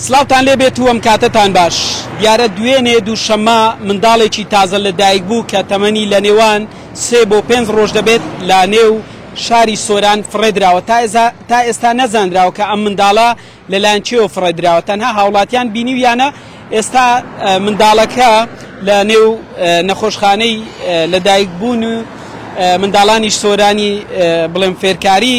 سڵاوتان لێ بێت و ئەم کاتەتان باش دیارە دوێنێ دووشەممە منداڵێکی تازە لە دایک بوو کە تەمەنی لە نێوان سێ بۆ پێنج ڕۆژ دەبێت لە نێو شاری سۆران فڕێدراوە تا ئێستا نەزانراوە کە ئەم منداڵە لەلایەن چێوە فڕێدراوە تەنها هاوڵاتیان بینیویانە ئێستا منداڵەکە لە نێو نەخۆشخانەی لە دایک بوون و منداڵانی سۆرانی بڵێم فێرکاری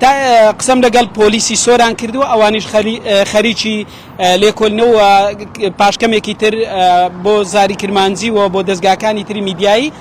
تا ئێستا قسەم لەگەڵ پۆلیسی سۆران کردووە، ئەوانیش خەریکی لێکۆلنەوە و پاشکەمێکی تر بۆ زاری کرمانجی و بۆ دەزگاکانی تری میدیایی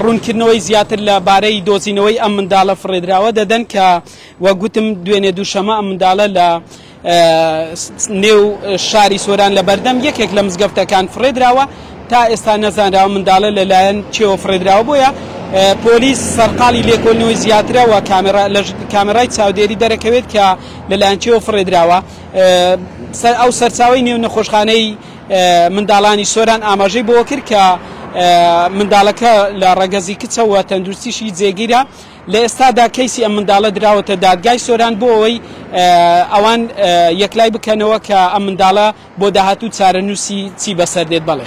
ڕوونکردنەوەی زیاتر لە بارەی دۆزینەوەی ئەم منداڵە فڕێدراوە دەدەن کە وەک گوتم دوێنێ دووشەمە ئەم منداڵە لە نێو شاری سۆران لە بەردەم یەکێک لە مزگەفتەکان فڕێدراوە تا ئێستا نەزانراوە منداڵە لەلایەن کێوە فڕێدراوە بۆیە پۆلیس سەرقاڵی لێکۆلنەوەی زیاترەوە کامێرای چاودێری دەرەکەوێت کە لەلایەن کێوە فڕێدراوە ئەو سەرچاوی نێو نەخۆشخانەی منداڵانی سۆران ئاماژەی بۆ کرد کە منداڵەکە لە ڕەگەزی کچەوە تەندروستیشی جێگیرە لە ئێستادا کەیسی ئەم منداڵە دراوەتە دادگای سۆران بۆ ئەوەی ئەوان یەکلای بکەنەوە کە ئەم منداڵە بۆ داهاتوو چارەنووسی چی بەسەردێت. بەڵێ.